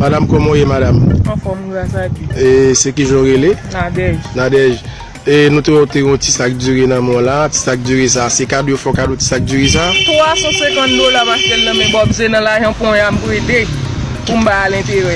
Madam koman ou ye madam. Anfom gras a Dieu. E se kijan ou rele? Nadège. Nadège e nou te wè ou te gen yon ti sak diri nan men w la, ti sak diri sa se kado yo fè w kado ti sak diri sa? 350 dola paske l nan men Bòb se nan lajan ponya m prete pou m bay al enterè.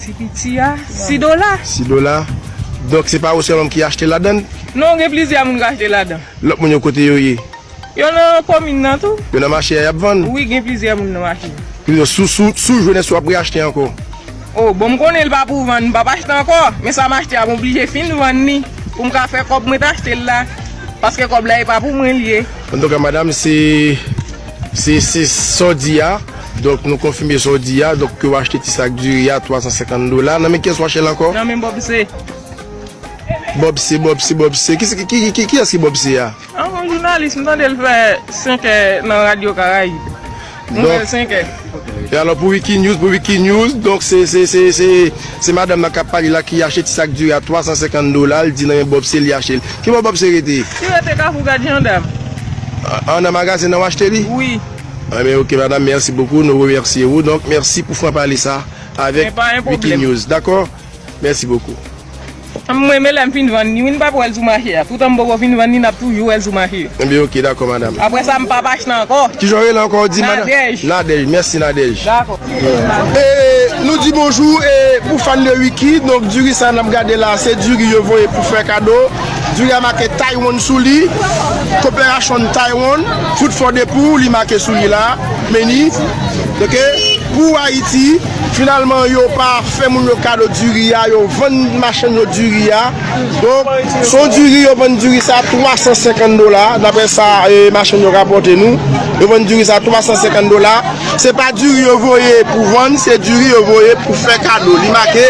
Ti piti a, si dola. Si dola. Donk se pa ou sèlmam ki achte ladann? Non, gen plizyè moun k achte ladan. Lòt moun yo kote yo ye? Yo nan komin nan tou. Yo nan mache a y ap vann? Wi, gen plizyè moun nan mache a. Ki vle di sou ou jwenn èske w ap reyachte ankò? O, bon m konnen li pa pou vann, m p ap achte ankò. Men sa m achte a m oblije fin vann li pou m ka fè kòb mwen te achte l la. Paske kòb la e pa pou mwen li ye. Antouka madam se. Se se sa w di a, donk nou konfime sa w di a, donk ke w achte ti sak diri a 350 dola, nan men kiyès w achte l ankò? Nan men Bob C. Bob C, Bob C, Bob C, kiyès ki Bob C a? A yon jounalis, m tande l fè 5 è nan radyo Karayib, nouvèl 5 è. E alò pou Wikinews, pou Wikinews, donk se, se, se, se. Se madam nan kap pale la ki ache ti sak diri a 350 dola l di nan men Bob se li ache l. Ki bò Bob se rete? Ki rete kafou gad jandam. An nan magazen nan w achte li? Wi. An ben ok madam merci beaucoup nou remercie wou donk merci pou franc parler sa avek Wikinews dakò merci beaucoup. M renmen lèm fin vann li wi m pap wèl sou mache a toutan m poko fin vann li nap toujou wèl sou mache. Ebyen ok dakò madam. Aprè sa m pap achte ankò. Kijan ou rele ankò ou di madam? Nadège. Nadège mèsi Nadège. Dakò. E nou di bonjou e pou fan de Ricky donk diri sa nap gade la se diri yo voye pou fè kado diri a make Taiwan sou li Cooperation Taiwan food for the poor li make sou li la menu ok pou Ayiti. Finalman yo pa fè moun yo kado diri a, yo vann machann yo diri a. Donk, se yon diri, yo vann diri sa 350 dola, daprè sa machann yo rapòte nou. Yo vann diri sa 350 dola. Se pa diri yo voye pou vann, se diri yo voye pou fè kado. Li make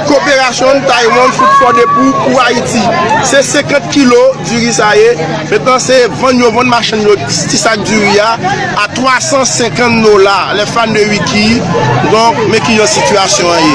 Cooperation Taiwan Food for the Poor pou Ayiti. Se 50 kilo. Diri sa ye, metnan se vann yo vann machann yo ti sak diri a a 350 dola lè fan de wiki donk men ki jan sitiyasyon an ye.